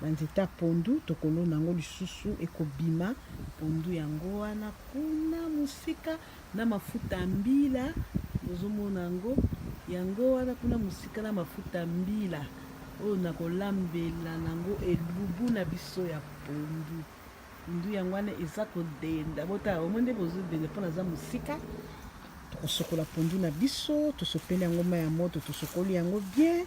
Ba nzete ya pondu tokolona yango lisusu ekobima pondu yango wana kuna mosika na mafuta ya mbila bozomona yango yango wana kuna mosika na mafuta ya mbila oyo nakolambela nango elubu na biso ya pondu pondu yango wana eza kodenda botala omo nde bozodenda mpo naza mosika tokosokola pondu na biso tosopeli yango mai ya moto tosokoli yango bien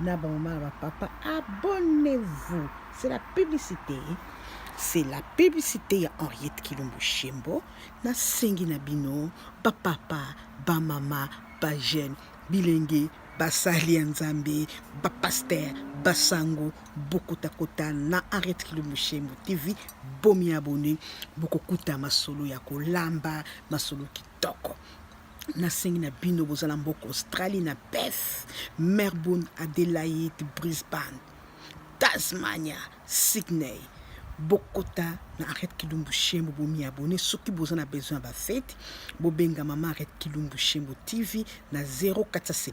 na ba maman ba papa abonnez-vous c'est la publicité c'est la publicité ya Henriette Kilombo Shembo na sengi na bino ba papa ba mama ba jeune bilenge basali ya nzambe bapaster basango bokotakota na arete kilombo shembo tv bomi abone bokokuta masolo ya kolamba masolo kitoko nasengi na bino bozala mboko australie na perth melbourne adelaide brisbane tasmania sydney bokota na arrête kilumbu shembo bomiabone soki boza na besoin ya bafete bobenga mama arrête kilumbu shembo tv na 0470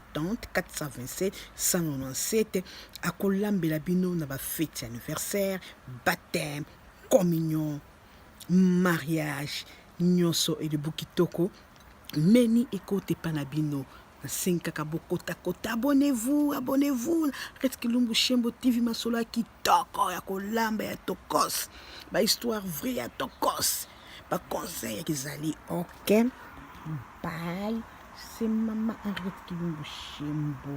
427 197 akolambela bino na bafete ya anniversaire baptême communion mariage nyoso elibu kitoko meni ekota epa na bino nasengi kaka bokota kota abonnez-vous abonnez-vous Red Kilumbu Shembo TV masolo ya kitoko ya kolamba ya tokos ba histoire vrai ya tokos ba conseil ya kizali ok bye c'est maman Henriette Kilumbu Shembo